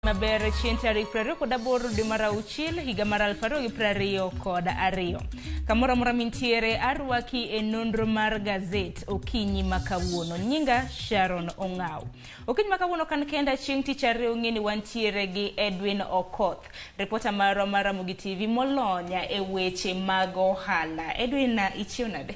maber chieng' tarik prariyo kod aboro dwe mar auchiel higa mar aluf ariyo gi prariyo kod ariyo kamoro amora mintiere arwaki e nonro mar gazet okinyi ma kawuono nyinga sharon ong'aw okinyi ma kawuono kan kenda chieng' tich ariyo ng'e ni wantiere gi edwin okoth ripota marwa mar ramogi tv molonya e weche mag ohala edwin ichiew nade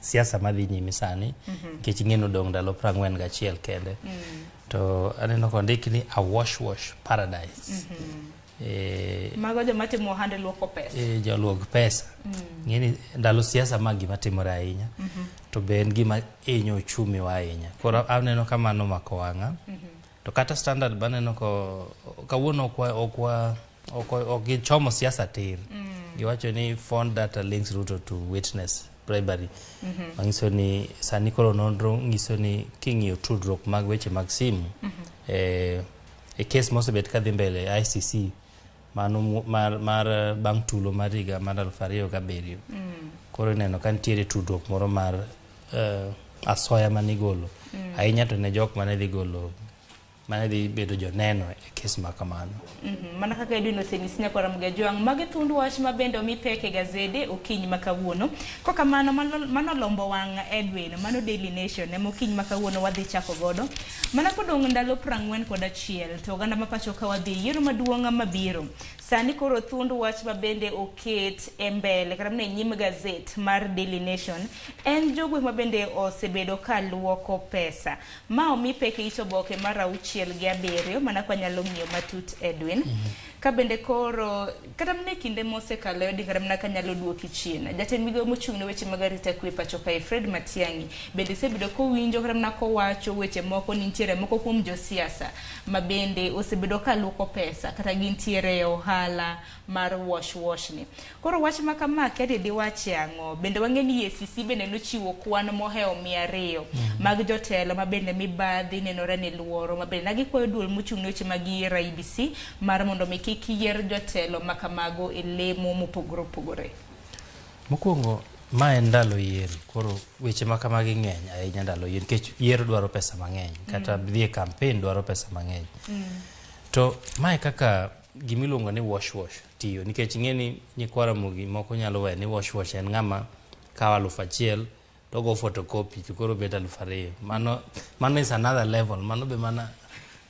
siasa madhi nyime sani nikech ing'e ni odong' ndalo prang'wen gachiel kende to aneno kondik ni a wash wash paradise Eh, Mago joma timo ohande luoko pesa. eh, joluog pesa ng'e ni ndalo siasa ma gima timore ahinya to be en gima hinyo uchumi wa ahinya koro aneno ka mano mako wang'a To kata standard baneno ko kawuono okwa okwa ok ok gichomo siasa tir. Giwacho ni phone data links Ruto to witness bribery. Manyiso ni sani koro nonro nyiso ni king'iyo tudruok mag weche mag simu eh, e kes mosebet kadhi mbele ICC mano mar, mar eh, bang' tulo mar higa mar aluf ariyo gabiriyo koro ineno ka nitiere tudruok moro mar eh, asoya mane igolo ahinya to ne jok mane dhi golo mane dhi bedo joneno e kes ma kamano Mhm, mana kaka idwino senis nyakwara mgajwang' magi thund wach ma bende omi pek e gazede okinyi ma kawuono kokamano mano mano lombo wang' edwin mano daily nation ema okinyi ma kawuono wadhi chako godo Mana kodong' ndalo prang'wen kod achiel to oganda ma pacho ka wadhi yiero maduong' mabiro. Sani koro thund wach ma bende oket e mbele kata mne nyim gazet mar Daily Nation en jogwe ma bende osebedo ka luoko pesa. Ma omi pek e it oboke mar auchiel gi abiriyo mana kwa nyalo ng'iyo matut Edwin. Ka bende koro Kata mana e kinde mosekalo e odinga mana ka nyalo duoki chien. Jatend migao mochung' ne weche mag arita kwe pacho kae Fred Matiang'i bende isebedo kowinjo kata mana kowacho weche moko ni nitiere moko kuom josiasa ma bende osebedo ka luoko pesa kata gintiere e ohala mar wash wash ni. Koro wach ma kama akia ni diwache ang'o. Bende wang'e ni EACC bende nochiwo kwan mohewo mia ariyo mag jotelo ma bende mibadhi nenore ni luoro ma bende na gikwayo duol mochung' ne weche mag yiero IEBC Mar mondo mi kik yier jotelo ma kamago e lemo mopogore opogore. Mokwongo ma en ndalo yiero koro weche ma kamagi ng'eny ahinya ndalo yiero nikech yiero dwaro pesa mang'eny kata mm. dhie kampen dwaro pesa mang'eny mm. to mae kaka gimiluongo ni wash wash tiyo nikech ing'e ni nyikwara mogi moko nyalo wee ni wash wash en ng'ama kawo alufu achiel to go photocopy to koro bet aluf ariyo mano mano is another level mano be mana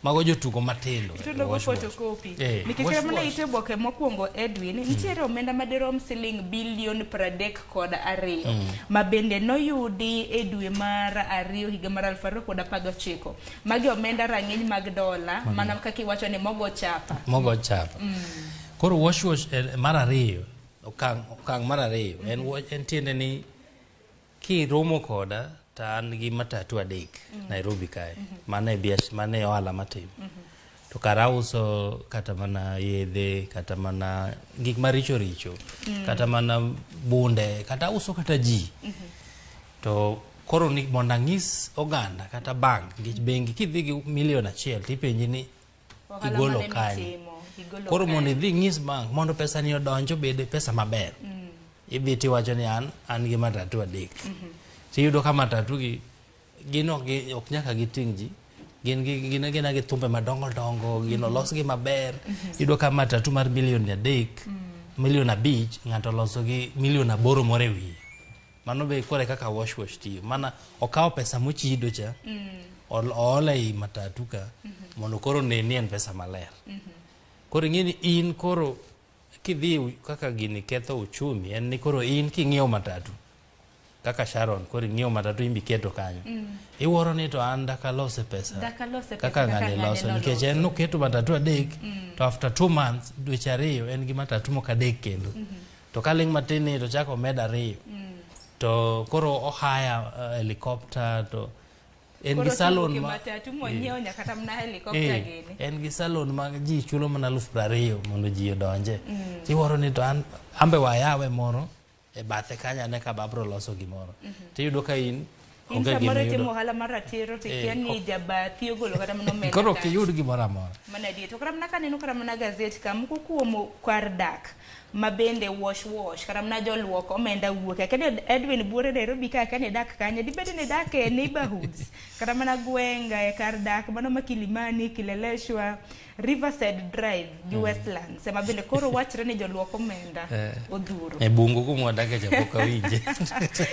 mago jotugo matindo eh, Itudo go wash wash. photocopy. Eh, Nikech wash mane wash. ite oboke mokwongo Edwin, nitiere omenda madirom siling bilion pradek kod ariyo ma bende noyudi e dwe mar ariyo higa mar aluf ariyo kod apar gochiko. Magi omenda rang'iny mag dola mana kaka iwacho ni mogo chapa. mogo chapa koro wash wash eh, mar ariyo okang' okang' mar ariyo en wa- en tiende ni Kiromo koda to an gi matatu adek Nairobi kae. Mano e biash, mano e ohala matimo. To kara auso kata mana yedhe, kata mana gik maricho richo, kata mana bunde, kata auso kata ji. To koro ni mondo ang'is oganda kata bank, nikech bengi kidhi gi milion achiel tipenji ni igolo kanye koro mondo idhi ng'is bank mondo pesa ni odonj obed pesa maber mm. idhi tiwacho ni an an gi matatu adek mm -hmm. tiyudo ka matatu gi gin ok nyaka giting' ji gin gin gina gi thumbe madongo dongo gin mhm. olos gi maber mhm. yudo ka matatu mar milion adek mhm. milion abich ng'ato oloso gi milion aboro moro e wiye mano be kore kaka wash wash tiyo mana okawo pesa mochido cha mm. oola ei matatu ka mm -hmm. mondo koro neni en pesa maler mm -hmm. koro ing'e ni in koro kidhi kaka gini ketho uchumi en ni koro in king'iewo matatu kaka Sharon koro ing'iewo matatu imbi keto kanyo mm. iwuoro ni to an dakalose pesa, dakalose pesa kaka ng'ani loso nikech en noketo matatu adek mm. to after two months dweche ariyo en gi matatu moko adek kendo mm -hmm. to ka ling' matin ni to chako omed ariyo mm. to koro ohaya uh, helicopter to en gi salon ma en gi salon ma ji chulo mana aluf prariyo mondo ji odonje mm. tiworo ni to an ambe wayawe moro e bathe kanya ne ka babro loso gimoro mm -hmm. tiyudo ka in In Onge gima samoro itimo iyudo. ohala mar ratiro to Eh, ikia ni ok- jabathi ogolo kata mana omenda koro ok kae. iyud gimoro amora Mana adier. To kata mana kaneno kata mana gazet ka moko kuom kar dak ma bende wash wash kata mana joluok omenda wuok. Akia ni Edwin Buore Nairobi ka akia ni dak kanye. Dibed ni dak e neighborhoods kata mana gweng' e kar dak mano ma Kilimani, Kileleshwa, Riverside Drive gi mm. Westlands ema bende koro wachre ni joluok omenda eh. odhuro. E bungu kuma wadake cha pok awinje.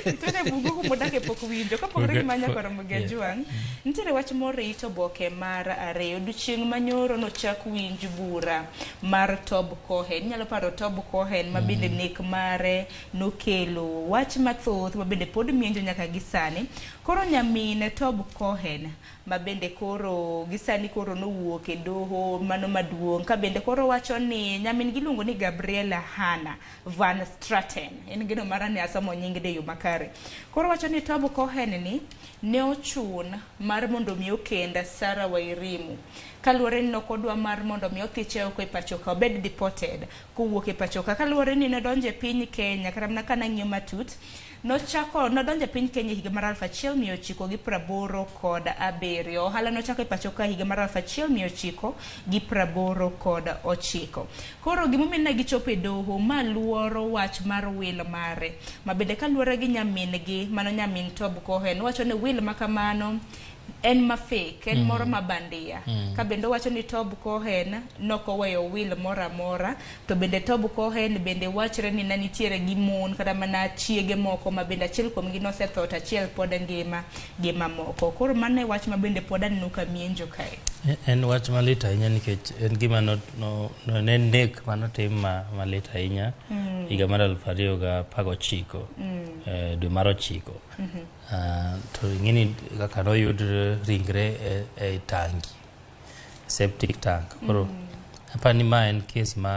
Nitiere bungu kuma wadake pok winjo kapogore gi manya koro Mugejwang. Mm. Nitiere wach morito boke mar ariyo odiochieng' manyoro nochak winj bura mar Tob Cohen. Inyalo paro Tob Cohen ma bende mm. nek mare nokelo wach mathoth ma bende pod mienjo nyaka gi sani. Koro nyamine Tob Cohen ma bende koro gisani koro nowuok e doho mano maduong' ka bende koro wacho ni nyamin gi iluongo ni Gabriella Hanna Van Straten, en geno mara ni asomo nying ni e yo makare, koro wacho ni Tom Cohen ni ne ochun mar mondo mi okend Sarah Wairimu kaluwore ni nok odwa mar mondo mi othiche oko e pachoka, obed deported kowuok e pachoka kaluwore ni nodonjo e piny Kenya kata mana ka nang'iyo matut, Nochako nodonjo e piny Kenya e higa mar aluf achiel mia ochiko gi praboro kod abiriyo. Ohala nochako e pacho ka e higa mar aluf achiel mia ochiko gi praboro kod ochiko. Koro gimomiyo ne gichopo e doho, ma luoro wach mar Will mare, ma bende kaluwore gi nyamin-gi, mano nyamin Tob Cohen, owacho ni Will ma kamano en ma fake, en moro ma bandia. Ka bende owacho ni Tob Cohen nokoweyo Will moro amora. To bende Tob Cohen bende wachre ni ne nitiere gi mon kata mana chiege moko ma bende achiel kuomgi nosetho to achiel pod ngima gi mamoko. Koro mano e wach ma bende pod aneno ka mienjo kae. En wach malit ahinya nikech en gima no, no, no, ne en nek manotim ma, malit ahinya mm. higa mar aluf ariyo ga apar gochiko mm. eh, dwe mar ochiko mm -hmm. uh, to ing'eni kaka noyud ringre e, e tangi septic tank koro apani ni ma en case ma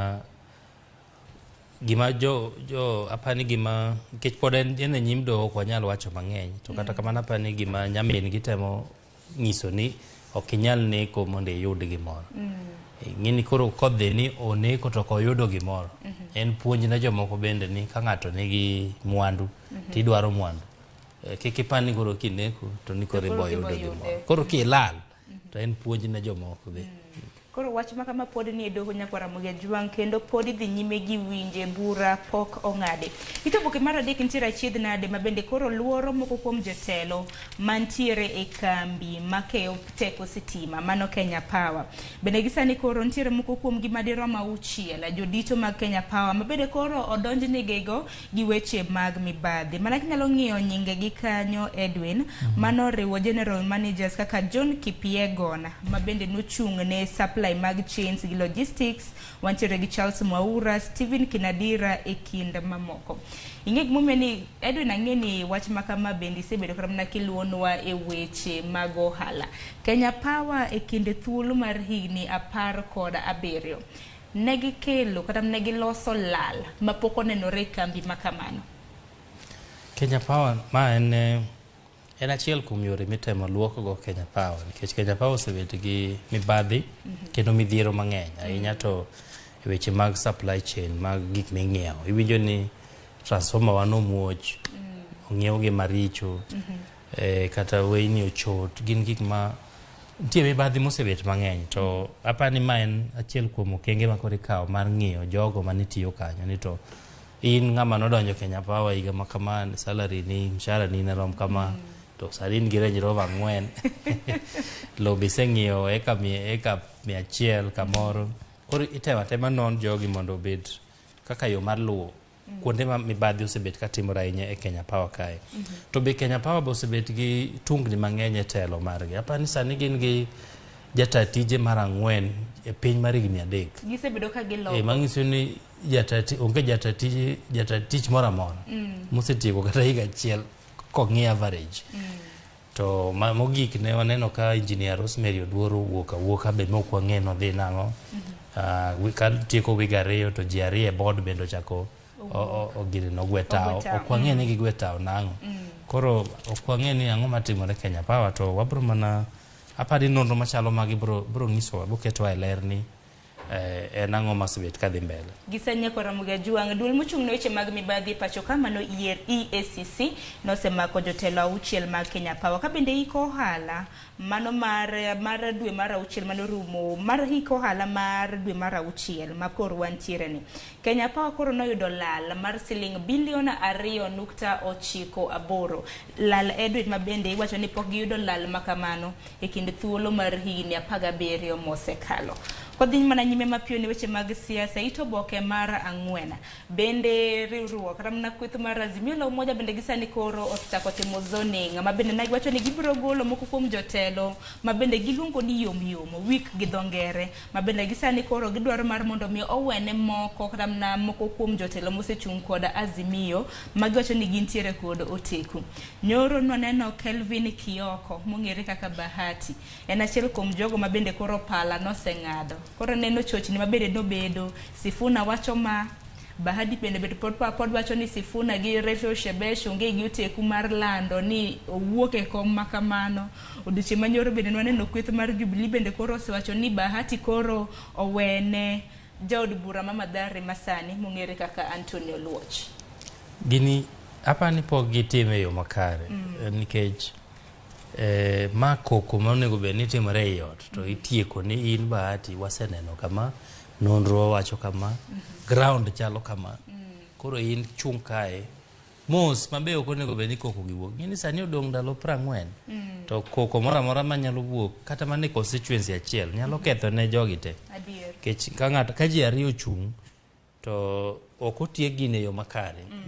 gima jo jo apani ni gima nikech pod en e nyim doho ok wanyal wacho mang'eny to kata mm. kamano apani ni gima nyamin gitemo nyiso ni ok inyal neko mondo iyud gimoro mm. ng'eni koro kodhi ni oneko to koyudo gimoro mm -hmm. en puonj ne jomoko bende ni ka ng'ato nigi mwandu mm -hmm. tidwaro mwandu eh, kik ipani koro kineko to ni koro iboyudo gimoro koro kilal to en puonj ne jomoko be. Koro wach ma kama pod ni e doho Nyakwar Ramogi Ajwang' kendo pod idhi nyime gi winje, bura pok ong'adi. It oboke mar adek nitiere achiedh nade ma bende koro luoro moko kuom jotelo mantiere e kambi makeyo teko sitima, mano Kenya Power. Bende gisani koro nitiere moko kuomgi madirom auchiel, jodito mag Kenya Power, mabende koro odonjnigigo gi weche mag mibadhi. Mana kinyalo ng'iyo nyinge gi kanyo Edwin, mm -hmm. mano riwo general managers kaka John Kipiegon ma bende nochung' ne supply mag chains gi logistics, wantiere gi Charles Mwaura, Stephen Kinadira e kind mamoko. Ing'e gimomiyo ni Edwin ang'e ni wach ma kama bende isebedo kata mana kiluwonwa e weche mag ohala. Kenya Power e kinde thuolo mar higni apar kod abiriyo. ne gikelo kata ne giloso lal ma pok onenore e kambi ma kamano. Kenya Power ma en eh, en achiel kuom yore mitemo luokgo Kenya Power nikech Kenya Power osebet gi mibadhi kendo midhiero mang'eny ahinya to e weche mag supply chain mag gik ming'iewo. Iwinjo ni transformer wa nomuoch, ong'iew gi maricho. eh, kata weyni ochot gin gik ma nitie mibadhi mosebet mang'eny to apa ni ma en achiel kuom okenge ma koro ikawo mar ng'iyo jogo ma nitiyo kanyo ni to in ng'ama nodonjo Kenya Power higa ma kama salary ni mshahara ni ne rom kama to sani in gi Range Rover ang'wen lowo be iseng'iewo eka mia eka mia achiel kamoro koro itemo atema non jogi mondo obed kaka yo mar luwo kuonde ma mibadhi osebet ka timore ahinya e Kenya Power kae. To be Kenya Power be osebet gi tungni mang'eny e telo margi. Aparo ni sani gin gi jata tije mar ang'wen e piny mar higni adek. Gisebedo ka E, giloko. mang'iso ni jata ti- onge jata tije jata tich moro amora mosetieko kata higa achiel kong'i average. To ma mogik ne waneno ka engineer Rosemary Oduor owuok awuoka be mok wang'e nodhi nang'o. Ah, wi- ka tieko wig ariyo to ji ariyo e board bende ochako o- o- ogire nogwe tawo. Ogwe tawo, Ok wang'e ni gigwe tawo nang'o. Koro ok wang'e ni ang'o matimore Kenya Power to wabro mana apani nonro machalo magi bro bro nyisowa boketwa e ler ni eh, en ang'o masebet kadhi mbele. Gisanya Kwaramogi Ajwang', duol mochung' ne weche mag mibadhi e pacho ka mano yier EACC nosemako jotelo auchiel mag Kenya Power ka bende iko ohala mano mar mar dwe mar auchiel mane orumo mar iko ohala mar dwe mar auchiel ma koro wantiere ni. Kenya Power koro noyudo lal mar siling bilion ariyo nukta ochiko aboro. Lal e dwe ma bende iwacho ni pok giyudo lal ma kamano. e kind thuolo mar higni apar gabiriyo mosekalo. Wadhi mana nyime mapiyo ne weche mag siasa. It oboke mar ang'wen bende riwruok ramna kweth mar Azimio la Umoja bende gisani koro osechako timo zoning ma bende ne giwacho ni gibiro golo moko kuom jotelo ma bende giluongo ni yomyom wik gi dho ngere ma bende gisani koro gidwaro mar mondo mi owene moko kata mna moko kuom jotelo mosechung' kod Azimio ma giwacho ni gintiere kod oteku. Nyoro nwaneno Kelvin Kioko mong'ere kaka Bahati en achiel kuom jogo ma bende koro pala noseng'ado. Koro neno chochni ma bende nobedo, Sifuna wacho ma, Bahati bende bende pod pa pod wacho ni Sifuna gi Rachel Shebesh onge gi oteku mar lando ni owuok e kom ma kamano. Odiochieng' manyoro bende nwaneno kweth mar Jubilee bende koro osewacho ni Bahati koro owene jaod bura ma Mathare masani mong'ere kaka Anthony Oluoch. Gini aparo ni pok gitime e yo makare mm. nikech eh, ma koko ma onego bed ni timore ei ot to itieko ni in Bahati waseneno kama nonro wacho kama mm -hmm. ground chalo kama mm. koro in chung' kae mos ma be ok onego bed ni koko gi wuok ng'eni sani odong' ndalo prang'wen mm. to koko moro amora ma nyalo wuok kata mana e constituency achiel nyalo mm. ketho ne jogi te kech ka ng'ato ka ji ariyo ochung' to ok otiek gin e yo makare mm.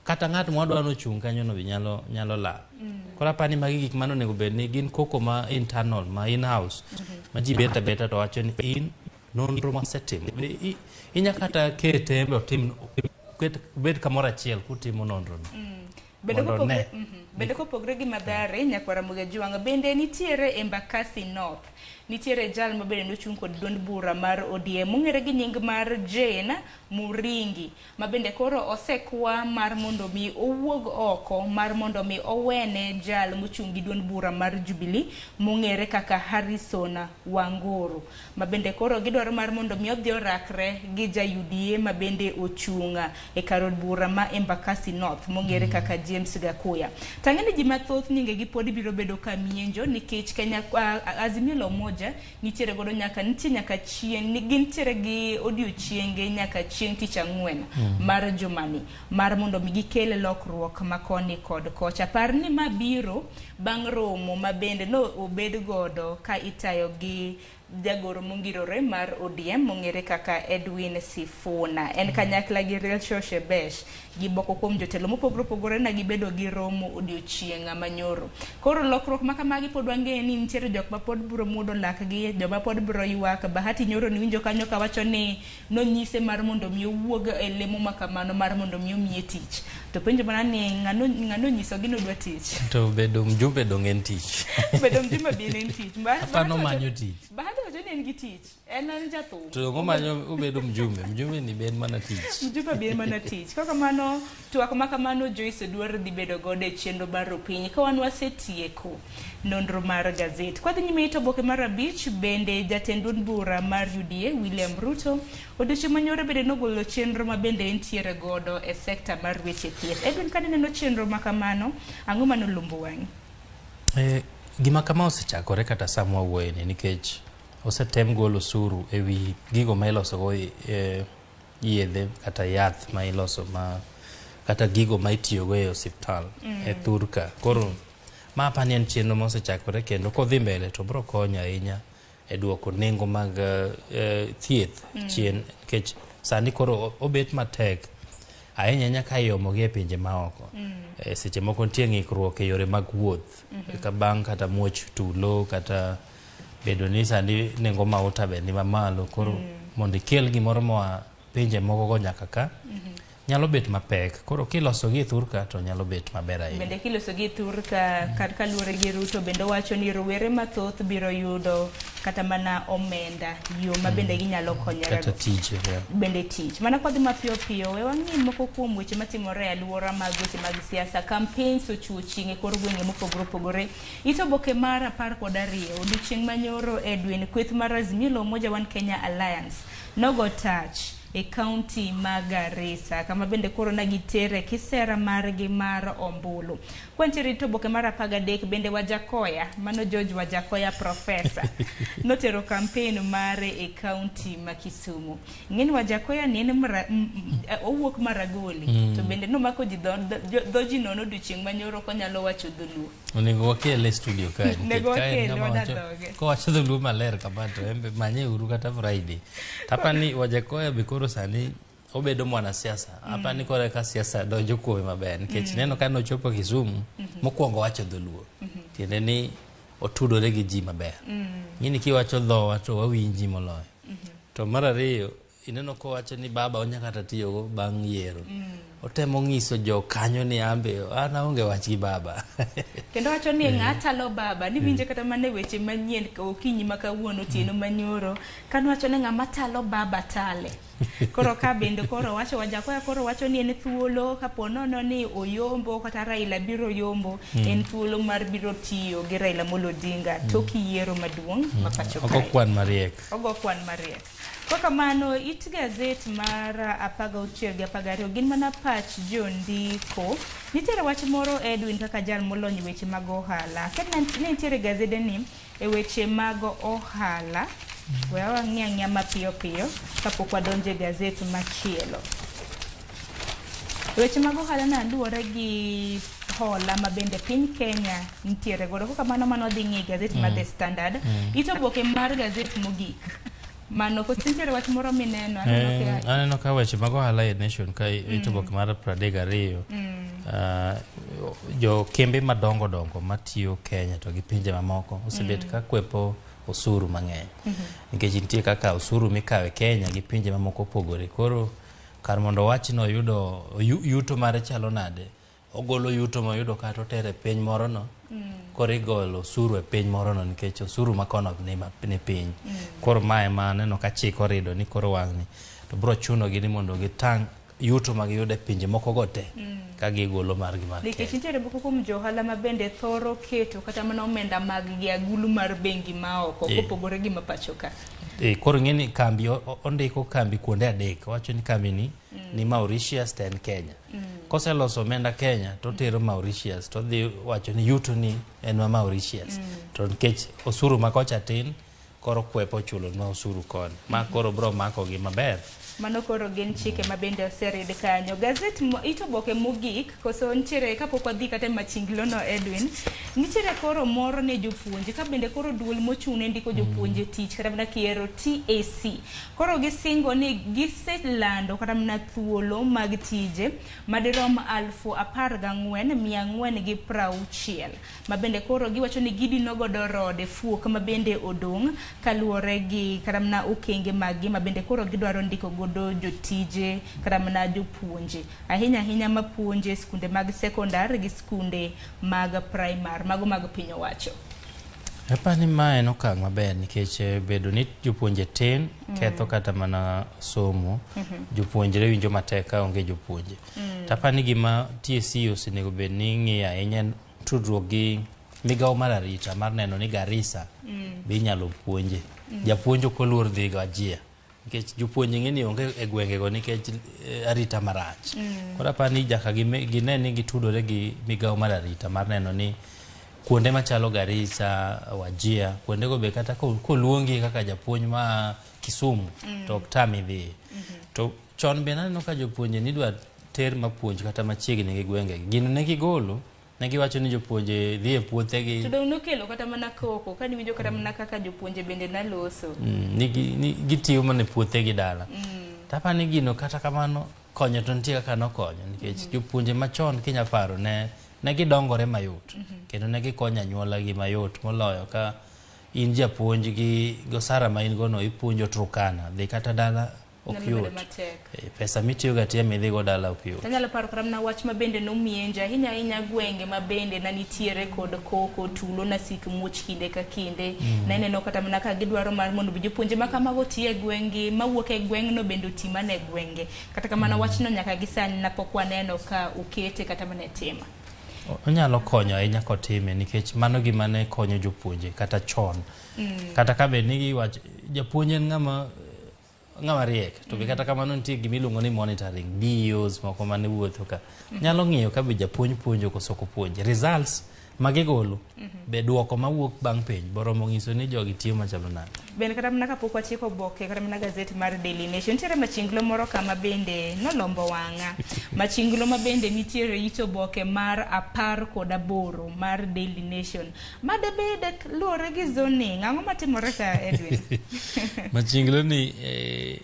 kata ng'at ma wadwa nochung' kanyo no be nyalo nyalo lal mm. koro apani magi gik mano onego bed ni gin koko ma internal ma in house mm -hmm. ma ji beta beta to wacho ni in nonro mosetim inya kata kete embe otim bed kamoro achiel kutimo nonrono mm. mhm. bedo kopogre gi madhare nyakwara mugajuanga bende nitiere embakasi north nitiere jal mabende nochung' kod duond bura mar odm mong'ere gi nying mar jane muringi ma bende koro osekwa mar mondo mi owuog oko mar mondo mi owene jal mochung' gi duond bura mar Jubilee mong'ere kaka Harrison Wanguru ma bende koro gidwaro mar mondo mi odhi orakre gi ja UDA ma bende ochung' e kar od bura ma Embakasi North mong'ere kaka James Gakuya. Tang'e ni ji mathoth nyingegi pod biro bedo ka mienjo nikech Kenya Azimio la Umoja nitiere godo nyaka nitie nyaka chieng' ni gintiere gi odiochienge nyaka chieng' tich ang'wen mm. mar jumani mar mondo mi gikel lokruok ma koni kod kocha par ni ma biro bang' romo ma bende no obed godo ka itayo gi jagoro mongirore mar ODM mong'ere kaka Edwin Sifuna en mm. kanyakla gi Rachel Shebesh gi moko kuom jotelo mopogore opogore ne gibedo gi romo odiochieng' manyoro. Koro lokruok ma kamagi pod wang'eyo ni nitiere jok ma pod biro muodo lakgi, joma pod biro ywak. Bahati nyoro niwinjo kanyo ka wacho ni nonyise mar mondo mi owuog e lemo ma kamano mar mondo mi omiye tich. To penjo mana ni ng'ano ng'ano onyisogi ni odwa tich? To bedo mjumbe donge en tich? Bedo mjumbe be en tich. Bahati Aparo wacho- nomanyo tich. Bahati wacho ni en gi tich. En en jathum. To ngo manyo obedo mjumbe, mjumbe ni ben mana tich. Mjumbe ben mana tich. Kaka mano twak ma kamano Joyce Odwar dhi bedo godo e chenro baro piny ka wan wasetieko nonro mar gazet. Kwa dhi nyime ito boke mar abich bende jatend duond bura mar UDA William Ruto odiochieng' manyore bende nogolo chenro ma bende entiere godo e sekta mar weche thieth. Edwin kane neno chenro ma kamano ang'o mano lumbo wang'i? Eh, gima kama osechakore kata samwa wuoyeni nikech Osetem golo osuru e wi gigo ma ilosogo eh, yedhe kata yath ma iloso ma kata gigo ma itiyogo e osiptal e thurka koro ma apani en chenro ma osechakore kendo kodhi mbele to biro konyo ahinya e duoko nengo mag eh, eh, thieth chien nikech sani koro o- obet matek ahinya ahinya ka iomogi e pinje maoko Eh, seche moko nitie ng'ikruok e yore mag wuoth ka bang' kata muoch tulo kata bedo ni sani nengo mauta be ni mamalo koro mm. mondo ikel gimoro moa pinje moko go nyaka ka mm -hmm. nyalo bet mapek koro kiloso gi thurka to nyalo bet maber ahinya bende kiloso gi thurka kar kaluwore gi ruto bende wacho ni rowere mathoth biro yudo kata mana omenda yo ma bende mm. ginyalo konyore bende tich mana kodhi mapiyo piyo we wang'i moko kuom weche matimore e alwora mag weche mag siasa campaigns ochuo chieng' e kor gwenge mopogore opogore It oboke mar apar kod ariyo odiochieng' manyoro e dweni kweth mar Azimio la Umoja One Kenya Alliance nogo tach e kaunti ma Garissa kama bende koro ne gitere kisera margi mar ombulu. Kwantiere it oboke mar apar gadek bende Wajakoya, mano George Wajakoya Profesa, notero kampen mare e kaunti ma Kisumu. ng'eni wajakoya ni en mra, m, m, owuok maragoli mm. to bende nomako ji dho, dho, dho ji nono odiochieng' manyoro ok onyalo wacho dholuo onego wakele e studio kae nikech Onego kae en wakele, ng'ama wacho- wadadhoge. kowacho dholuo maler kama to en be manye uru kata friday tapa ni wajakoya be koro sani obedo mwanasiasa apa ni koro eka siasa donjo kuome maber nikech neno ka nochopo kisumu mokwongo wacho dholuo tiende ni otudore gi ji maber ng'ini kiwacho dhowa to wawinji moloyo To mar ariyo, ineno kowacho ni baba onya kata tiyogo bang' yiero. Otemo ng'iso jo kanyo ni ambe an aonge wach gi baba. Kendo wacho ni ng'a chalo baba, niwinje kata mana e weche manyien ka okinyi ma kawuono, otieno ma nyoro, kano wacho ni ng'ama chalo baba chale. Koro ka bende koro owacho Wajakoya koro wacho ni en thuolo ka po nono ni oyombo kata Raila biro yombo, en thuolo mar biro tiyo gi Raila Amolo Odinga tok yiero maduong' ma pacho Ok kae. okwan mariek. Ogo kwan mariek. Kwa kamano, it gazet mar apaga auchiel gi apaga ariyo gin mana pach jondiko. Nitiere wach moro Edwin kaka jal molony e weche mag ohala. Ket na- ne nitiere gazede ni e weche mag ohala. We wang'i ang'iya mapiyo piyo kapok wadonjo e gazet machielo. Weche mag ohala na luwore gi hola ma bende piny Kenya nitiere godo. Kaka mano mano dhi ng'i gazet mm. ma The Standard. Mm. Ito boke mar gazet mogik. Mano ko nitiere wach moro mineno aneno eh, ka aneno ka weche mag ohala e nation ka mm. ito boke mar 32. Mm. Uh, jo kembe madongo dongo matiyo Kenya to gi pinje mamoko osebet mm. ka kwepo osuru mang'eny. Mm -hmm. Nikech nitie kaka osuru mikawe Kenya gi pinje mamoko opogore. Koro Kar mondo owach ni oyudo oyu- yuto mare chalo nade, ogolo yuto moyudo kata otero e piny morono, koro igolo osuru e piny morono nikech osuru ma kono ni ma- ni piny. Koro ma ema aneno ka chik orido ni koro wang'ni. To biro chunogi ni mondo gitang' yuto ma giyudo e pinje mokogo te ka gigolo margi mar nikech Kenya. nitiere moko kuom jo ohala ma bende thoro keto kata mana omenda maggi agulu mar bengi ma oko Eh. kopogore gi ma pacho ka E, koro ing'e ni kambi o- o- ondiko kambi kuonde adek owacho ni kambi ni mm. ni mauritius to en kenya mm. koseloso omenda kenya to otero mauritius to odhi wacho ni yuto ni en ma mauritius mm. to nikech osuru ma kocha tin koro kwepo chulonwa osuru koni ma koro bro makogi maber Mano koro gin chike ma bende oserid kanyo. Gazet mo- it oboke mogik koso nitiere kapok wadhi kata e machinglono Edwin, nitiere koro moro ne jopuonje ka bende koro duol mochung' ne ndiko jopuonje tich kata mana kiero TAC. Koro gisingo ni giselando kata mana thuolo mag tije madirom alfu apar gang'wen mia ang'wen gi prauchiel. ma bende koro giwacho ni gidino godo rode fuok ma bende odong' kaluwore gi kata mana okenge maggi ma bende koro gidwaro ndiko godo jotije kata mana jopuonje ahinya ahinya ma puonje skunde mag sekondar gi skunde mag primar mago mag piny owacho. Apa ni ma en okang' maber nikech eh, bedo ni jopuonje tin ketho kata mana somo jopuonjre winjo matek ka onge jopuonje Mm. To apani gima TSC e osenego bed ni ng'iyo ahinya en tudruok gi migawo mar arita mar neno ni Garissa mm. be inyalo puonje. Mm. Japuonj ok oluor dhi ga jia nikech jopuonj ng'e ni onge e gwengego nikech eh, arita marach. Mm. Koro apani jaka gine ni gitudore gi migawo mar arita mar neno ni kuonde machalo Garissa, Wajia, kuondego be kata koluongi kaka japuonj ma Kisumu mm. to ok tami dhi. Mm -hmm. to Chon be naneno ka jopuonje nidwa ter mapuonj kata machiegni gi gwengegi. Gino ne gigolo, ne giwacho ni jopuonje dhi e puothegi. To dong' nokelo kata mana koko, ka niwinjo kata mana kaka jopuonje bende naloso. Mm, ni, gi, ni gitiyo mana e puothegi dala. Mm. Tapa ni gino kata kamano konyo to nitie kaka nokonyo nikech mm -hmm. jopuonje machon kinya paro ne ne gidongore mayot mm -hmm. kendo ne gikonyo anyuolagi mayot moloyo ka in japuonj gi gosara ma in gono ipuonjo Turkana dhi kata dala ok Nyalo bedo yot matek. Eh, pesa mitiyogo atiya midhigo dala ok yot Tanyalo paro kata mana wach ma bende nomienja ahinya ahinya gwenge ma bende na nitiere kod koko tulo na sik muoch kinde ka kinde Mm. na ineno kata mana ka gidwaro mar mondo bi jopuonje ma kamago oti e gweng'gi mawuok e gweng'no bende oti mana e gwenge kata kamano wachno nyaka gi sani na pok waneno ka okete kata mana e tima O- onyalo konyo ahinya kotime nikech mano gima ne konyo jopuonje kata chon Mm. kata ka bed ni giwach japuonj en ng'ama ng'ama riek to be kata kamano nitie gima iluongo ni monitoring DEOs moko mane wuotho ka nyalo ng'iyo ka be japuonj puonjo koso ok opuonj results ma gigolo be duoko mawuok bang' penj boromo ng'iso ni jogi tiyo machalo nade bende kata mana kapok wachiko oboke kata mana gazeti mar Daily Nation nitiere machinglo moro kama bende nolombo wang'a machinglo ma bende nitiere it oboke mar apar kod aboro mar Daily Nation ma debed luwore gi zoning ang'o matimore ka edwin machinglo ni eh,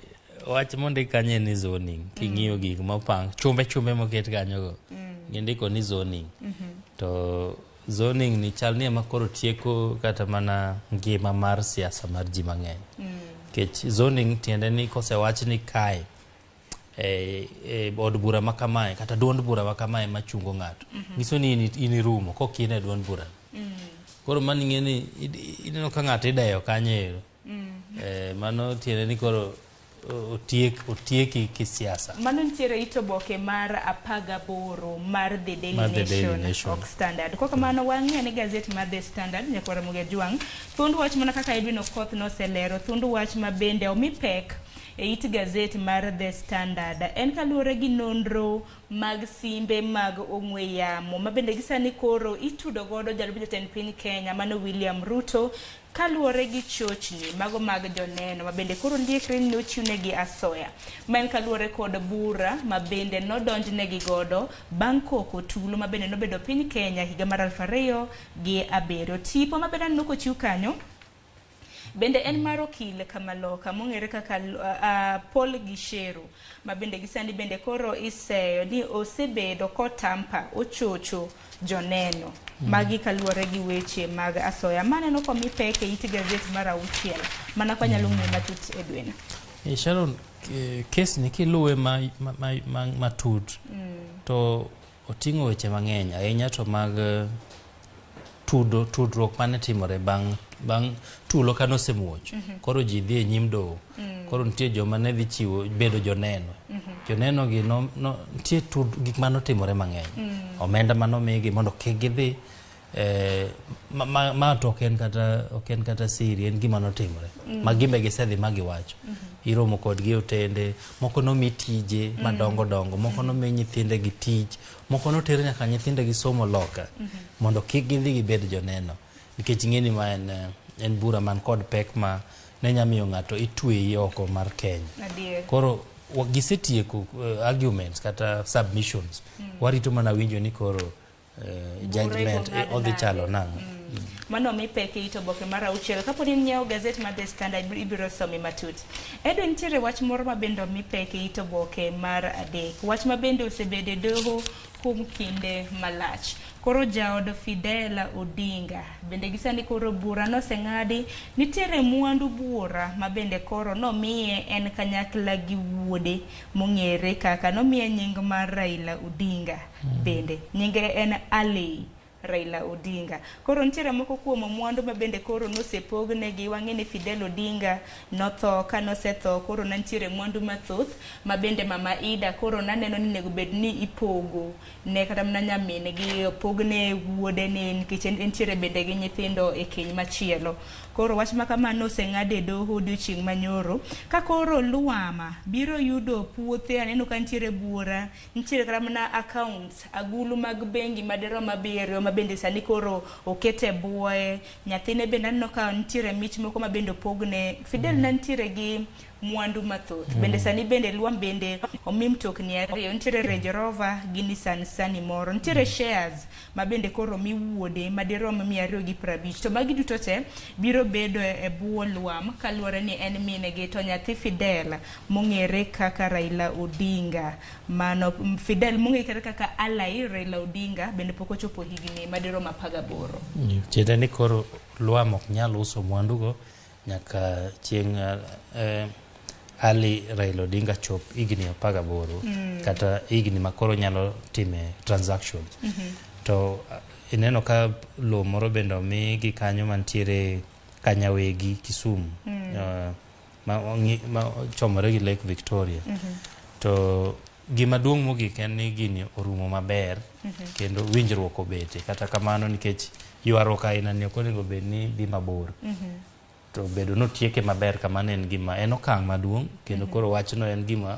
wach mondi kanye ni zoning king'iyo mm. gik mopang chumbe chumbe moket kanyogo mm. gindiko ni zoning mm-hmm. to zoning ni chal ni ema koro tieko kata mana ngima mar siasa mar ji mang'eny mm. kech zoning tiende ni kosewach ni kae e, e od bura ma kamae kata duond bura ma kamae ma chungo ng'ato mm -hmm. nyiso ni in irumo kok in e duond bura mm -hmm. koro mano ing'e ni ineno ka ng'ato ideyo kanyo ero mm -hmm. e, mano tiende ni koro otiek otieki kisiasa mano nitiere ito boke mar apaga boro mar the daily, mar the daily nation, nation. ok standard kwa kamano wang'e ni gazeti mar the standard nyakwara muga jwang' thund wach mana kaka edwin okoth noselero thund wach ma bende omi pek e it gazet mar The Standard en kaluwore gi nonro mag simbe mag ong'we yamo ma bende gisani koro itudo godo jalup jatend piny Kenya mano William Ruto kaluwore gi chochni mago mag joneno ma bende koro liekre ni nochiwnegi asoya ma en kaluwore kod bura ma bende nodonjnegi godo bang' koko tulo ma bende nobedo piny Kenya higa mar aluf ariyo gi abiriyo. Tipo ma bende aneno kochiw kanyo Bende en mar okil Kamaloka mong'ere kaka uh, Paul Gisheru ma bende gisani bende koro iseyo ni osebedo kotampa ochocho joneno mm. magi kaluwore gi weche mag asoya maneno komi pek e it gazet mar auchiel mana kwa nyalo ng'eyo matut e dwena e Sharon kesni kiluwe matut ma, ma, ma, ma mm. to Oting'o weche mang'eny ahinya to mag tudo tudruok mane timore bang' bang' tulo kane osemuoch koro ji dhi e nyim doho koro nitie joma ne dhi chiwo bedo joneno joneno gi no, no, nitie tud, gik mane otimore mang'eny omenda mane omigi mondo kik gidhi Eh, ma, ma, ma to ok en kata ok en kata siri en gima notimore mm. ma gimbe gisedhi ma giwacho mm -hmm. iromo kodgi e otende moko nomi tije mm. madongo dongo moko mm. nomi nyithinde gi tij moko noter nyaka nyithinde gi somo loka mm -hmm. mondo kik gidhi gibed joneno nikech ing'eni ma en eh, en bura man kod pek ma ne nya miyo ng'ato itweyi oko mar Kenya Adiye. koro gisetieko uh, arguments kata submissions mm. warito mana winjo ni koro eh, judgment eh, odhi chalo nang'o mm. mano mi pek ito boke mar auchiel kapo ni nyiewo gazet mar The Standard ibiro some matut. Edwin nitiere wach moro ma bende omi pek ito boke mar adek wach ma bende osebedo e doho kuom kinde malach koro jaod Fidela Odinga bende gisani koro bura noseng'adi nitiere mwandu bura ma bende koro nomiye en kanyakla gi wuode mong'ere kaka nomiye nying mar Raila Odinga bende. Nyinge en Alley Raila Odinga. Koro nitiere moko kuom mwandu ma bende koro nosepognegi. Wang'e ni Fidel Odinga notho, ka nosetho koro ne nitiere mwandu mathoth ma bende Mama Ida koro naneno ni onego bed ni ipogo ne kata mana nyamin gi opogne wuode ni nikech entiere bende gi nyithindo e keny machielo. Koro wach ma kamano oseng'ad e doho odiochieng' manyoro. Ka koro Luama biro yudo puothe aneno ka nitiere buora, nitiere kata mana accounts, agulu mag bengi madirom abiriyo ma bende sani koro okete buoye. Nyathine bende aneno ka nitiere mich moko ma bende opogne. Fidel ne nitiere gi mwandu mathoth. Bende sani bende Lwam bende omi mtokni ariyo, nitiere Range Rover gi Nissan Sunny moro. Nitiere shares ma bende koro omi wuode madirom mia ariyo gi prabich. To magi duto te biro bedo e bwo Lwam kaluwore ni en min gi to nyathi Fidel mong'ere kaka Raila Odinga. Mano Fidel mong'ere kaka Ally Raila Odinga bende pok ochopo higni madirom apar gaboro. Tiende ni koro Lwam ok nyal uso mwandugo. nyaka chieng' eh, Ali Raila Odinga chop higni apar gaboro kata higni ma koro nyalo time transaction to ah, ineno ka lowo moro bende omi gi kanyo mantiere Kanyawegi Kisumu eh, ma ong'i- ma ochomore gi Lake Victoria to Gima duong' mogik en ni gini orumo maber kendo winjruok obete. Kata kamano nikech ywaruok aina ni ok onego bed ni dhi mabor. To bedo ni otieke maber kamano en gima en okang' maduong' kendo koro wachno en gima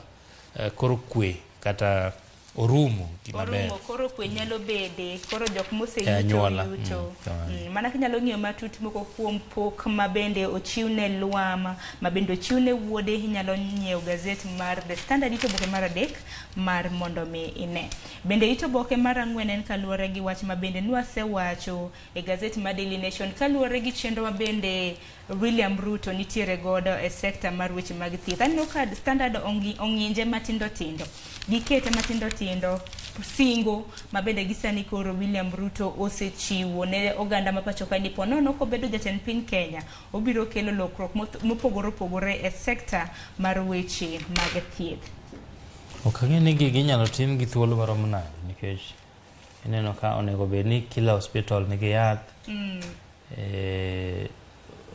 eh, koro kwe kata orumo gima ber. Orumo koro kwe nyalo bede, koro jok E moseyuto anyuola, yuto. mm, kamano. Mm, Mana kinyalo ng'iyo matut moko kuom pok ma bende ochiw ne Lwama. ma bende ochiw ne wuode. Inyalo nyiewo gazet mar The Standard it oboke mar adek mar mondo mi ine. Bende it oboke mar ang'wen en kaluwore gi wach ma bende nwasewacho e gazet mar Daily Nation kaluwore gi chenro ma bende William Ruto nitiere godo e sekta mar weche mag thieth. Aneno ka Standard ongi- ong'inje matindo tindo, gikete matindo tindo singo ma bende gisani koro William Ruto osechiwo ne oganda ma pacho ka ni ponono kobedo jatend piny Kenya Obiro kelo lokruok mopogore opogore e sekta mar weche mag thieth. Ok ang'e ni gigi inyalo tim gi thuolo marom nade nikech ineno ka onego bed ni kila hospital nigi yath mm. e,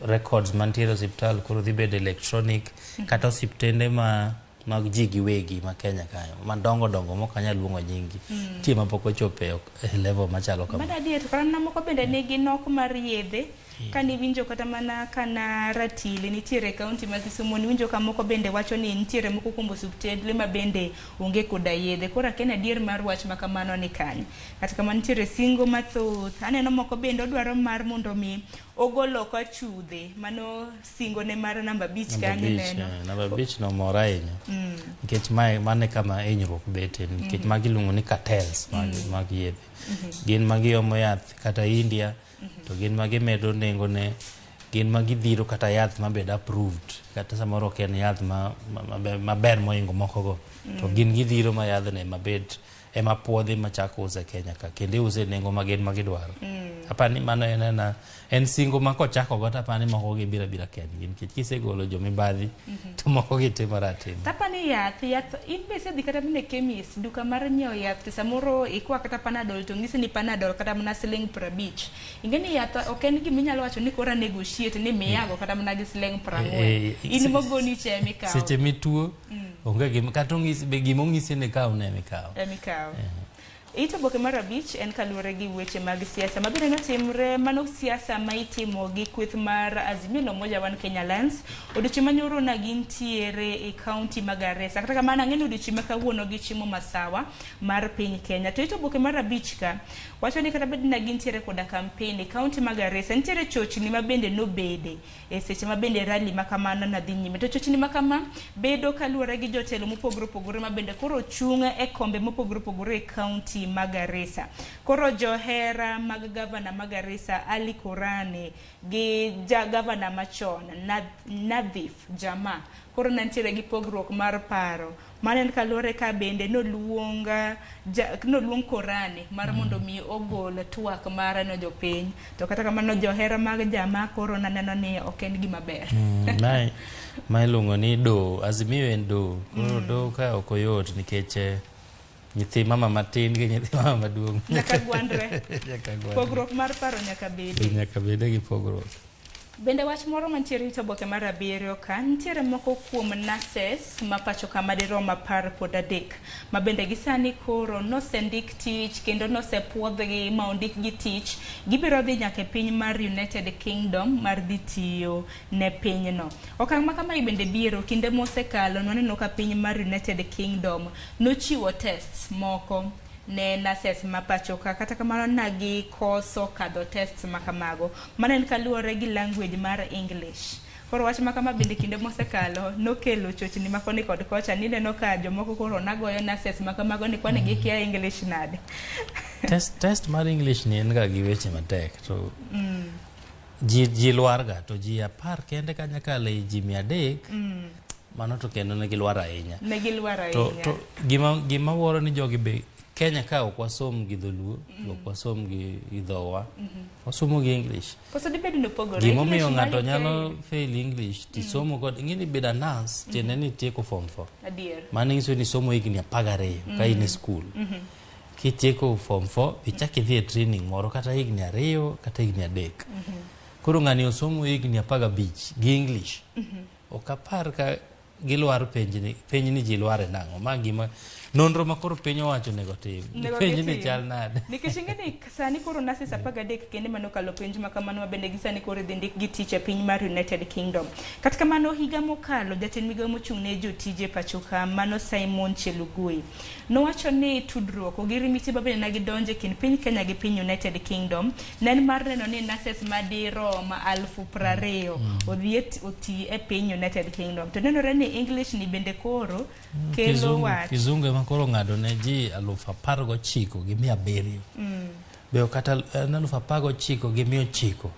records mantiere osiptal koro dhi bedo electronic mm -hmm. kata osiptende ma mag ji giwegi ma Kenya kayo madongo dongo mok anyal luongo nyinggi mm. tie mapok ochopo e, e level machalo kama. Bada diet karana moko bende nigi nok mar yedhe mm. kane winjo kata mana kana ratili nitiere kaunti ma Kisumu niwinjo ka moko bende wacho ni nitiere moko kuom osuptendle ma bende onge koda yedhe koro aken adier mar wach ma kamano ni kanye kata kamano nitiere singo mathoth aneno moko bende odwaro mar mondo mi ogol oko achudhe mano singo ne mar namba abich Namba kanyo abich, neno. eh, namba abich no mor ahinya Mm. nikech mae mane kama hinyruok bete nikech Mhm. magi iluongo ni cartels mag, Mhm. mag yedhe Mhm. gin ma giomo yath kata india to gin ma gimedo nengone gin ma gidhiro kata yath mabed approved kata samoro ok en yath ma- ma- maber- maber moingo mokogo to Mm. gin gidhiro ma yadhne mabed ema puodhi machako use Kenya ka kendo iuse e nengo magin ma gidwaro. Mm. Apa ni mano en ena en singo ma kochako go tapa ni moko gi bira bira ken gin kech kisegolo jo mibadhi mm -hmm. to moko gi timo ratim. Tapa ni yath yath in be sedhi kata mine kemis duka mar nyiewo yath to samoro ikwa kata panadol to ngisi ni panadol kata mana siling prabich. Inge ni yath ok en gima inyalo wacho ni kora negotiate ni miyago kata mana gi siling prang'wen. Eh, eh, in mogoni chemi kawo. Seche mituo Mm. Onge gima kata ong'isi be gima ong'isi ni kaw ne mikaw. Emi kaw. Eh. Ito boke mar abich en kaluwore gi weche mag siasa mabende notimre mano siasa ma itimo gi kweth mar Azimio la Umoja One Kenya Alliance odiochieng' ma nyoro na gintiere e kaunti ma Garissa kata kamano ang'e ni odiochieng' ma kawuono gichimo masawa mar piny Kenya to ito boke mar abich ka wacho ni kata bed na gintiere koda kampen e kaunti ma Garissa nitiere chochni ma bende nobede E seche ma bende rally ma kamano na dhi nyime, to chochni ma kama bedo kaluwore gi jotelo mopogore opogore ma bende koro chung' e kombe mopogore opogore e kaunti ma Garissa. Koro johera mag gavana ma Garissa Ali Kurani gi ja gavana machon Nadhif Jama koro nantiere gi pogruok mar paro Mano en kaluwore ka bende noluong ja, noluong korani mar mm. mondo mi ogol twak mare no jopiny to kata kamano johera mag jama koro naneno ni ok en gima ber mm, mae ma iluongo ni do azimio en do koro mm. do ka ok oyot nikech eh, nyithi mama matin gi nyithi mama maduong' nyaka gwandre pogruok mar paro nyaka bede nyaka bede gi pogruok Bende wach moro mantiere rito oboke mar abiriyo ka, nitiere moko kuom nurses ma pacho ka madirom apar kod adek ma bende gi sani koro nosendik tich kendo nosepuodhgi ma ondikgi tich. Gibiro dhi nyaka e piny mar United Kingdom mar dhi tiyo ne pinyno. Okang' ma kamae bende biero kinde mosekalo nwaneno ka piny mar United Kingdom nochiwo tests moko. ne nurses ma pachoka kata kamano nagi koso kadho tests ma kamago. Mano en kaluore gi language mar English. Koro wach makama bende kinde mosekalo nokelo chochni ma koni kod kocha nineno ka jomoko koro nagoyo nurses ma kamago ni kwani gikia English nade. Test, test mar English ni en ga gi weche matek to mm. ji, ji lwarga to ji apar kende kanyakala e ji mia adek mm. mano to kendo ne gilwar ahinya ne gilwar ahinya to, to gima gima woro ni jogi be Kenya ka ok wasom gi dholuo mm. ok wasom gi idhowa mm -hmm. wasomo gi English koso dibed ni opogore gima omiyo ng'ato nyalo fail English ti mm. somo kod ing'e ni bedo nurse mm. tiende ni tieko form 4 adier mano nyiso ni somo higni apar gariyo mm. ka in e skul mm -hmm. kitieko form 4 ichak idhi e training moro kata higni ariyo kata higni adek mm -hmm. koro ng'ani osomo higni apar gabich gi English mm -hmm. Ok apar ka gilwar penjni penjni ji lware nang'o ma gima nonro ma koro piny owacho nego tim penjni chal nade nikech ingeni sani koro nurses apar gadek kende mano kalo penj ma kamano mabende gi sani koro idhi ndik gi tich e piny mar United Kingdom kata kamano higa mokalo jatend migawo mochung' ne jotije pachoka mano Simon Chelugui Nowacho ni tudruok, ogirimiti ma bende nagi donjo e kind piny Kenya gi piny United Kingdom ne en mar neno ni nurses madirom alfu prariyo mm. odhi e oti e piny United Kingdom. To nenore ni English ni bende koro mm, kelo wach. Kizungu ema koro ng'ado ne ji aluf apar gochiko gi mia abiriyo. Mm. Be kata eh, aluf apar gochiko gi mia ochiko.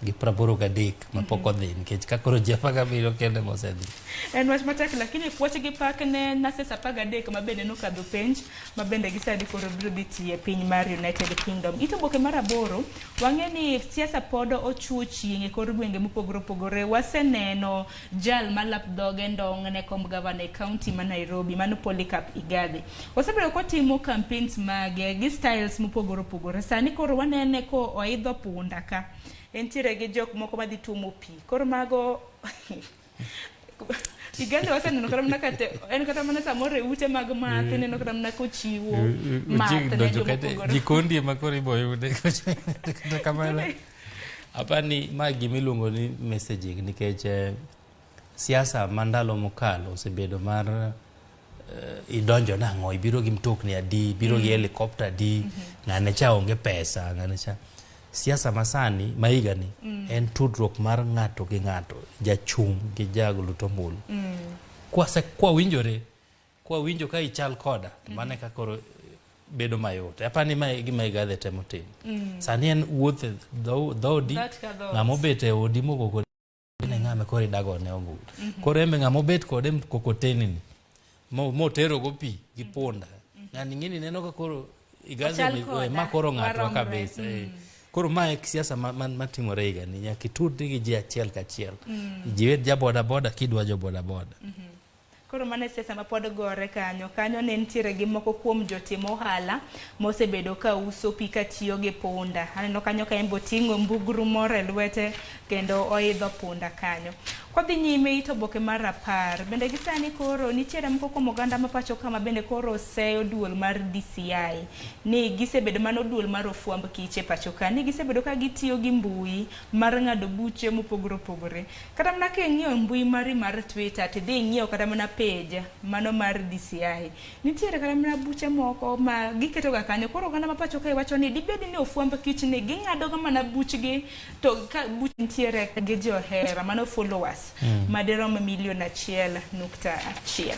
gi praboro gadek ma pok odhi nikech ka koro ji apar gabiriyo kende mosedhi en wach matek lakini puoch gi pak ne nurses apar gadek ma bende nokadho penj ma bende gisani koro biro dhi tiyo e piny mar united kingdom ito boke mar aboro wang'e ni siasa pod ochuo chieng' e kor gwenge mopogore opogore waseneno Jal ma lap dhoge ndong' ne komb gavana e kaunti ma Nairobi, mano Polycarp Igathe. Osebedo kotimo campaigns mage gi styles mopogore opogore. Sani koro wanene ko oidho punda ka. Entiere gi jok moko ma dhi tuomo pi. Koro mago Igathe waseneno kata mana kate, en kata mana samoro e ute mag math, mm. ineno kata mana kochiwo math ne joma opogore. Jikondi ema koro iboyude. Kata kamano. Apani ma gima iluongo ni messaging nikech eh, siasa ma ndalo mokalo osebedo mar eh, idonjo nang'o ibiro gi mtokni adi ibiro gi helikopta adi ng'ane cha onge pesa ng'ane cha siasa masani ma higani en tudruok mar ng'ato gi ng'ato jachung' gi jaglutombulu kwase kwawinjore Kwa winjo ka ichal koda, to mano e kaka koro bedo mayot. Aparo ni ma e gima Igathe temo timo. Sani en wuoth e dho- dhoodi, Dhoot ka dhoot. ng'ama obet e odi mogo kodi ne ng'ama koro idagone ombulu. Koro embe ng'ama obet kode mkokoteni ni, mo- moterogo pi gi punda. Ng'ani ing'eni ineno ka koro Igathe Ochal ni, koda, "Oe, ma koro ng'atwa waromre." kabisa. eh. Koro ma e siasa ma- ma- matimore higani, nyaka itudri gi ji achiel kachiel. Jiwed ja bodaboda kidwa jo bodaboda. Koro mano e siasa mapod gore kanyo. Kanyo ne nitiere gi moko kuom jotim ohala mosebedo ka uso pi katiyo gi punda. Aneno kanyo ka en be oting'o mbugru moro e lwete kendo oidho punda kanyo. Kwadhi nyime it oboke mar apar, bende gi sani koro nitiere moko kuom oganda ma pacho ka ma bende koro oseyo duol mar DCI ni gisebedo mano duol mar ofwamb kich e pacho ka ni gisebedo ka gitiyo gi mbui mar ng'ado buche mopogore opogore. Kata mana ka ing'iyo e mbui mari mar Twitter, tidhi ing'iyo kata mana page mano mar DCI, nitiere kata mana buche moko ma giketoga kanyo. Koro oganda ma pacho kae wacho ni dibed ni ofwamb kich ni ging'adoga mana buchgi to ka buch nitiere gi johera mano followers madirom milion achiel nukta chiel.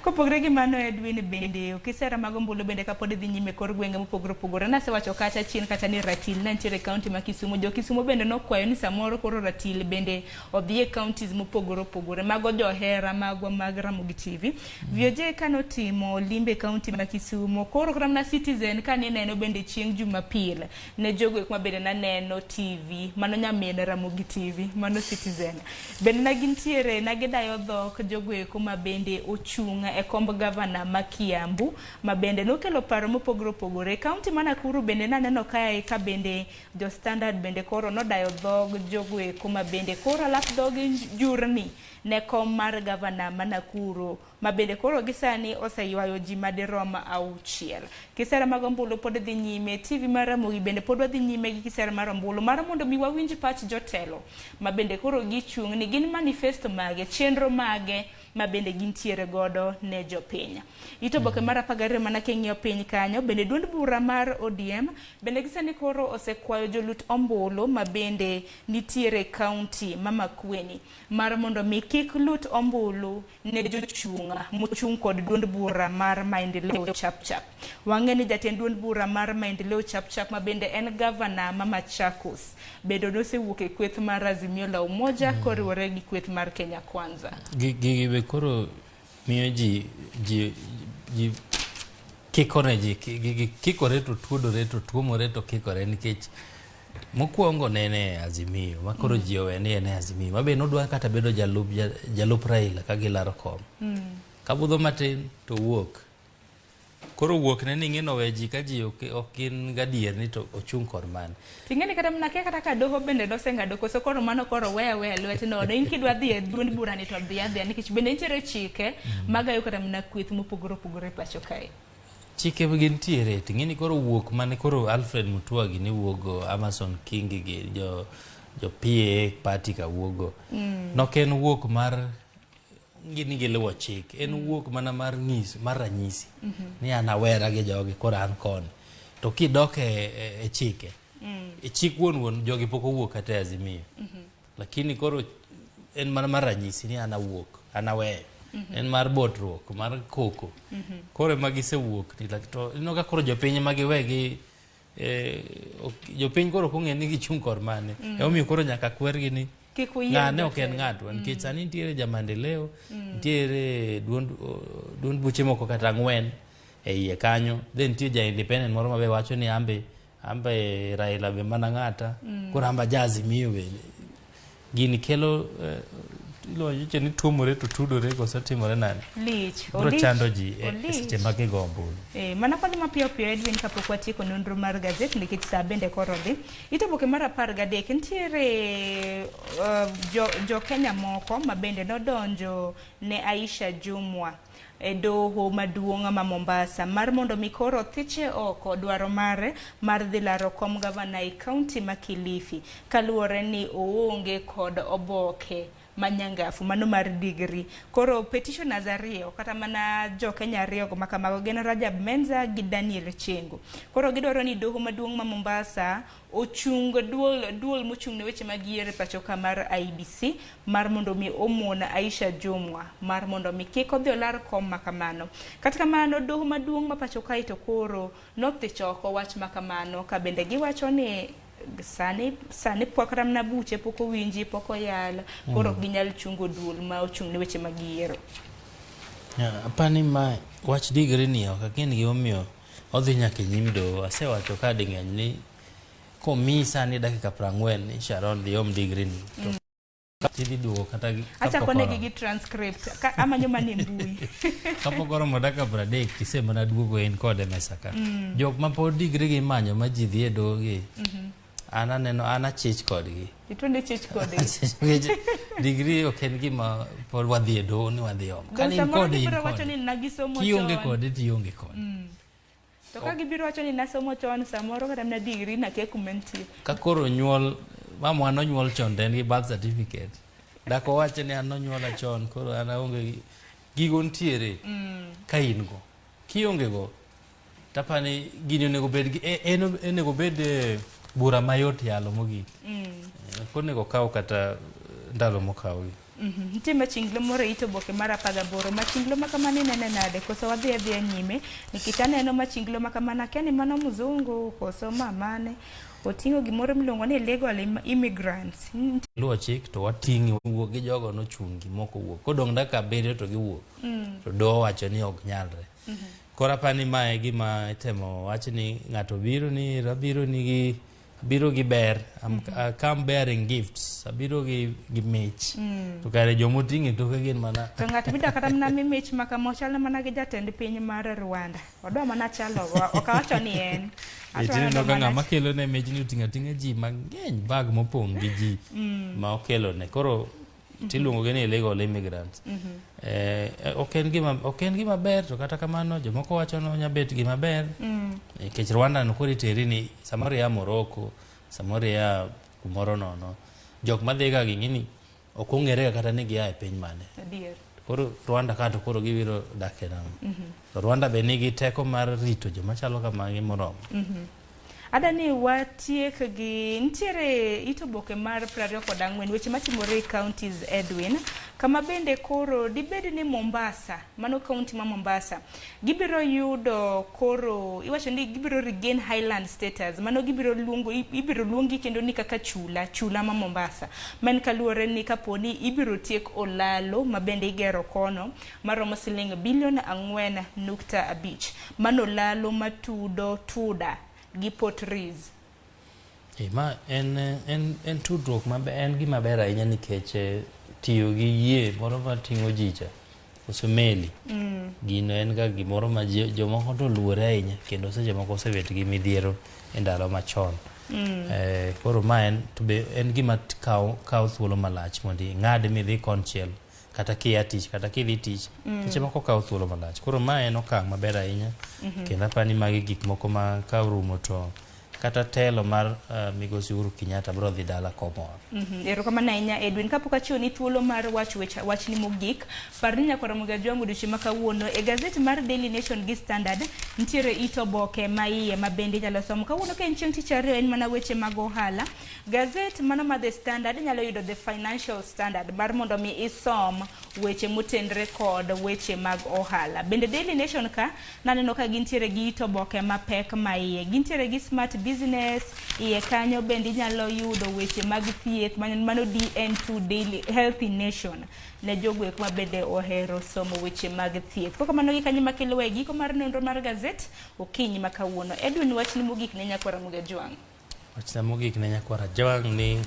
Kopogre gi mano Edwin bende okisera mag ombulu bende kapod idhi nyime kor gwenge mopogore opogore nasewacho kacha chien kacha ni ratil ne nitiere kaunti ma Kisumu jo Kisumu bende nokwayo ni samoro koro ratil bende odhi e kauntis mopogore opogore mago johera magwa mag Ramogi TV VOJ kane otimo limbe kaunti ma Kisumu koro kata mana Citizen kane ineno bende chieng' Jumapil ne jogo eko ma bende naneno TV, mano nyamin Ramogi TV, mano Citizen. Bende ne gintiere, ne gidayo dhok jogo eko ma bende ochung' e komb gavana ma Kiambu, ma bende nokelo paro mopogore opogore. Kaunti ma Nakuru bende naneno kae ka bende jo Standard bende koro nodayo dhog jogo eko ma bende koro alap dhogi njurni ne kom mar gavana ma Nakuru. ma bende koro gi sani oseywayo ji madirom auchiel. Kisera mag ombulu pod dhi nyime. TV mar Ramogi bende pod wadhi nyime gi kisera mar ombulu mar mondo mi wawinj pach jotelo ma bende koro gichung' ni gin manifesto mage, chenro mage ma bende gintiere godo ne jopiny. It oboke mar apar gariyo mana king'iyo piny kanyo, bende duond bura mar ODM bende gi sani koro osekwayo jolut ombulu ma bende nitiere e kaunti ma Makueni mar mondo mi kik lut ombulu ne jochung' mochung' kod duond bura mar Maendeleo Chapchap. Wang'e ni jatend duond bura mar Maendeleo Chapchap ma bende en gavana ma Machakos bedo nosewuok e kweth mar Azimio la Umoja mm. koriwore gi kweth mar Kenya Kwanza. Gigi be koro miyo ji ji ji kikore ji kikore to tuodore to tuomore to kikore nikech Mokwongo ne en e Azimio ma koro ji owe ni en e Azimio ma be nodwa kata bedo jalup, ja- jalup Raila ka gilaro kom. Kabudho matin to wuok. Koro wuok ne ni ing'eno we ji ka ji ok ok gin gadier ni to ochung' kod mane. Ting'eni kata mna kia kata ka doho bende noseng'ado koso koro mano koro weya weya lwet nono. In kidwa dhi e duond burani to dhi adhiya nikech bende nitiere chike magayo kata mna kweth mopogore opogore e pacho kae. Chike be gin tiere to ing'eni koro wuok mane koro Alfred Mutua gi ne wuogo Amason Kingi gi jo jo PA party ka wuogo. Mm. Nok en wuok mar gini giluwo chik en mm. wuok mana mar ng'is mar ranyisi mm -hmm. ni an awera gi jogi koro an koni to kidok e, e, e chike mm. e chik wuon wuon jogi pok owuok kata e azimio mm -hmm. lakini koro en mana mar ranyisi ni an awuok an aweyo en mar botruok mar koko koro ema gisewuok ni lak- to ineno ka koro jopiny ema giwe gi eh, ok- jopiny koro ok ong'e ni gichung' kor mane emomiyo koro nyaka kwergi ni Kik uyier ng'ane ok en jotelo. ng'atwa nikech sani nitiere jamandeleo nitiere duond o- duond buche moko kata ang'wen e iye kanyo then nitie ja independent moro mabe wacho ni ambe Amba e Raila be mana ng'ata. Mm. Koro amba jazi miyo be. Gini kelo uh, ilo yiche ni tuomore to tudore koso timore nani lich bro chando ji e, e seche ma gi gombo eh mana kwa ma pio pio Edwin ka pokwa tiko nonro mar gazet ni kit saa bende koro dhi ito boke mar 10 ga dek ntiere uh, jo, jo Kenya moko ma bende nodonjo ne Aisha Jumwa e doho maduong' ma Mombasa mar mondo mi koro othiche oko dwaro mare mar dhi laro kom gavana e kaunti ma Kilifi kaluwore ni oonge kod oboke ma nyangafu mano mar digri. Koro petitioners ariyo kata mana jo Kenya ariyo ma kamago gin Rajab Menza gi Daniel Chengo. Koro gidwaro ni doho maduong' ma Mombasa ochung duol duol mochung ne weche mag yiero e pachoka mar IBC mar mondo mi omon Aisha Jumwa mar mondo mi kik odhi olar kom makamano. Kata kamano doho maduong' ma pacho kae to koro nothich oko wach makamano ka bende giwacho ni sani sani pok ramna buche pok owinji pok oyal koro ok mm. ginyal chungo duol ma ochung' ne weche mag yiero. Apani ma wach digri ni ok ang'e ni gimomiyo Odhi nyaka e nyim doho. Asewacho ka ding'eny ni komi sani dakika prang'wen ni Sharon dhi om digri ni. To mm. Tidhi duogo kata gi Acha kone gi transcript ka amanyo mane mbui. Kapo goro mo dakika pradek tise mana duogo en kode mesa ka. Mm. Jok ma pod digri gi manyo ma ji dhi e doho gi. Mm -hmm. An aneno an achich kodgi. Itundo ichich kodgi. Achich kodgi. Degree ok en gima pod wadhi e doho ni wadhi omo. Ka in kode in kode. Kionge kode to ionge kode. Mm. To ka gibiro wacho ni nasomo chon samoro kata na degree na kia kuma nitie. Ka koro nyuol mamwa nonyuol chon to en gi birth certificate. Dako wacho ni an nonyuola chon koro an aonge gigo ntiere mm. ka in go. Kionge go Tapa ni gini onego bed gi e- en onego bed eh, bura mayot yalo mogik. Eh, Ok onego kaw kata eh, ndalo mokawo gi. Mhm. Nitie machinglo moro e it oboke mar apar gaboro. Machinglo ma kamano inene nade? Koso wadhi adhiya nyime? Nikech aneno machinglo ma kamano akia ni mano mzungu koso ma mane. Oting'o gimoro miluongo ni legal im- immigrants. Nitie Luwo chik to wating'i wuok gi jogo nochungi moko wuok. Kodong' dakika abiriyo to giwuok. To doho wacho ni ok nyalre. Koro apa ni ma e gima itemo wach ni ng'ato biro ni abiro ni gi biro gi ber I'm, I come bearing gifts abiro gi, gi mich to kare joma oting'e toke gin mana To ng'at midwa kata mana mi mich ma kama ochal mana gi jatend piny mar Rwanda. Odwa mana chalo ok awacho ni en. Ato Itino aneno ka mana- ng'ama kelo ne mijni oting'o ating'a ji mang'eny bag mopong' gi ji ma okelo ne koro mhm. tiluongogi ni illegal immigrants mm -hmm. eh, ok en gima ok en gima ber to kata kamano jomoko wacho ni onya bet gima ber mm. nikech mm. Rwanda no kori teri ni samoro ya Morocco samoro ya kumoro nono jok madhi ga gini ni ok ong'ere kata ni gia e piny mane koro Rwanda kato koro gibiro dak e nam mm -hmm. Rwanda be nigi teko mar rito joma chalo kamagi moromo. Mm -hmm. Ada ni watiek gi nitiere it oboke mar 20 kod ang'wen weche matimore e counties Edwin kama bende koro dibed ni Mombasa mano county ma Mombasa gibiro yudo koro iwacho ni gibiro regain highland status mano gibiro luongo ibiro luongi kendo ni kaka chula chula ma Mombasa man kaluwore ni kaponi ibiro tiek olalo ma bende igero kono maromo siling bilion ang'wen nukta abich manolalo matudo Tuda gi Port Reitz. Eh, ma en, en, en tudruok maber, en gima ber ahinya nikech eh, tiyo gi yie moro mating'o ji cha koso meli mm. gino en ga gimoro ma jomoko to luore ahinya kendo seche moko osebet gi midhiero e ndalo machon mm. eh, koro ma en to be en gima kawo thuolo malach mondo ing'ad midhi konchiel kata kia tich kata kidhi tich mm. seche moko kawo thuolo malach koro ma en okang' maber ahinya mm -hmm. kendo apani magi gik moko ma ka orumo to kata telo mar uh, migosi Uhuru Kenyatta bro dhi dala komor. Mm -hmm. Erokamano ahinya Edwin, kapok achiwo ni thuolo mar wach wecha, wach ni mogik, par ni nyakora Muga Jwangu odiochieng' ma kawuono e gazet mar Daily Nation gi Standard nitiere ito boke ma iye ma bende inyalo somo. Kawuono ka en chieng' tich ariyo en mana weche mag ohala. Gazet mano ma The Standard inyalo yudo The Financial Standard mar mondo mi isom weche motenre kod weche mag ohala. Bende Daily Nation ka naneno ka gintiere gi it oboke mapek ma iye. Gintiere gi Smart Business iye kanyo bende inyalo yudo weche mag thieth mano DN2 Daily Healthy Nation ne jogwek ma bende ohero somo weche mag thieth. Koko mano gi kanyo makelo e giko mar nonro mar gazet okinyi ma kawuono. Edwin wachni mogik ne nyakwara Mugejwang'. Wachna mogik ne nyakwar Ajwang' ni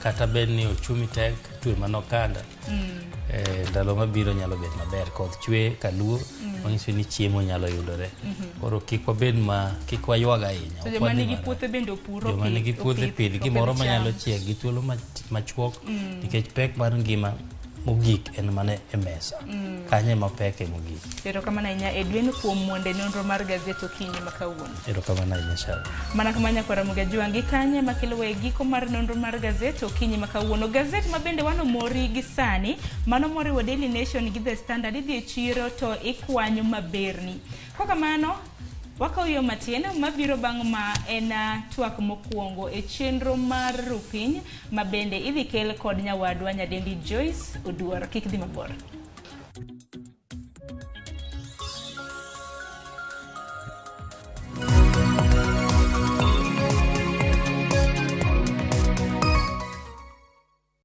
kata bed ni ochumi tek twe mana okanda eh, ndalo mabiro nyalo bet maber koth chwe kaluo manyiso ni chiemo nyalo yudore koro kik wabed ma kik waywag ahinya To ok joma wadhi nigi marach. puothe bende opuro joma pi- nigi puothe opith- pidh opidh gimoro cham. manyalo chiek gi thuolo mach- machuok nikech pek mar ngima mogik en mane e mesa mm. kanye mapeke mogik erokamano ahinya edwin kuom mwonde nonro mar gazet okinyi ma kawuono erokamano ahinya shara mana kama nyakwara mugajiwangi kanye makelowa e giko mar nonro mar gazet okinyi ma kawuono gazet ma bende wano mori gi sani mano moriwo daily nation gi the standard idhi e chiro to ikwanyo maberni Kokamano, wakawo yo matin mabiro bang' ma en twak mokwongo e chenro mar Rupiny ma bende idhi kel kod nyawadwa nyadendi Joyce Oduor. Kik dhi mabor.